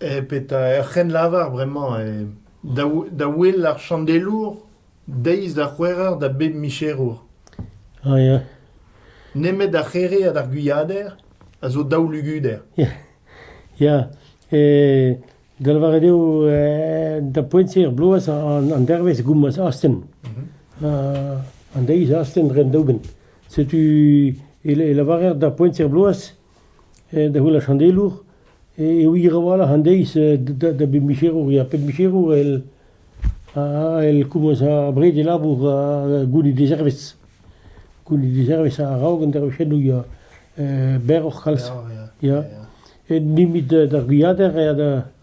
Eh petra ur c'hrennlavar bremañ eh da wel ar chandelour deiz da c'hwec'her da bep micherour. Ah ya. Nemet ar c'here hag ar gwiader a zo daou luguder. Ya, da lavaret eo da poent-se er bloaz an dervezh goumaz astenn. An deiz astenn dre an daoubenn. Setu e lavarer d'ar poent-se bloaz, da heul ar chandelour, e wir a-walc'h an deiz da bep micherour. Ya, pep micherour el el komañs abred e labour gounit e zervez. Gounit e zervez a-raok an dervezhennoù ya, berroc'h kalz. Ya, ya. Met d'ar gwiader eo da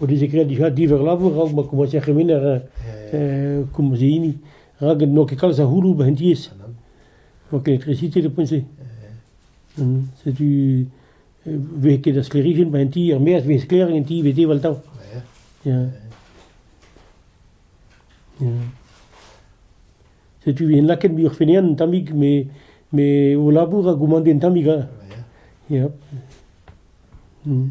o dije graet dija diverr labour raok ma komañse ar c'hemener euh, komañse hini rak n'oa ket kalz a c'houloù ba' en diaes. N'oa ket electricité de point-se. Mm. Setu euh, vez ket da sklêrijenn ba' en ti er maez vez sklaeriñ en ti vez deval-tav. Yeah. Yeah. Setu vez laket muioc'h fenean un tammig, me, me o labour a goumande un tammig. Hein. Yeah. Mm.